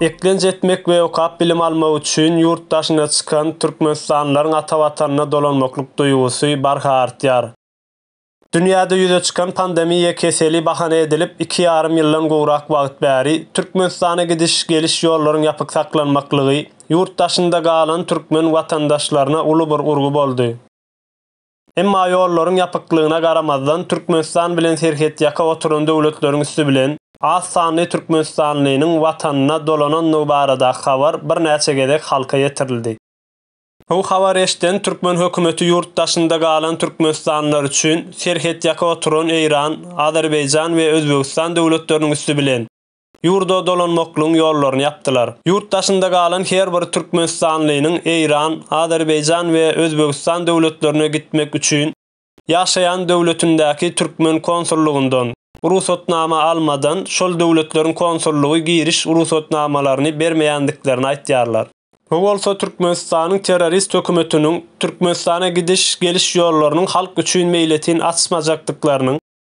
Eklenç etmek we okap bilim almak üçin ýurt daşyna çykan türkmenistanlylaryň ata Watanyna dolanmaklyk duýgusy barha artýar. Dünýäde ýüze çykan pandemiýa keseli bahana edilip, iki ýarym ýyldan gowrak wagt bäri Türkmenistana gidiş, geliş ýollaryň ýapyk saklanmaklygy ýurt daşynda galan türkmen watandaşlaryna uly bir urgy boldy. Emma ýollaryň ýapyklygyna garamazdan, Türkmenistan bilen serhetýaka oturan döwletleriň üsti bilen, az sanly türkmenistanlynyň Watanyna dolanandygy baradaky habar birnäçe gezek halka ýetirildi. Bu habary eşiden türkmen hökümeti ýurt daşynda galan türkmenistanlylar üçin, serhetýaka oturan Eýran, Azerbaýjan we Özbegistan döwletleriniň üsti bilen, ýurda dolanmaklygyň ýollaryny ýapdylar. Ýurt daşynda galan her bir türkmenistanlynyň Eýran, Azerbaýjan we Özbegistan döwletlerine gitmek üçin ýaşaýan döwletindäki türkmen konsullygyndan rugsatnama almadan şol döwletleriň konsullygy giriş rugsatnamalaryny bermeýändiklerini aýtýarlar. Bu bolsa Türkmenistanyň terrorist hökümetiniň Türkmenistana gidiş-geliş ýollarynyň halk üçin meýletin açmajakdyklarynyň,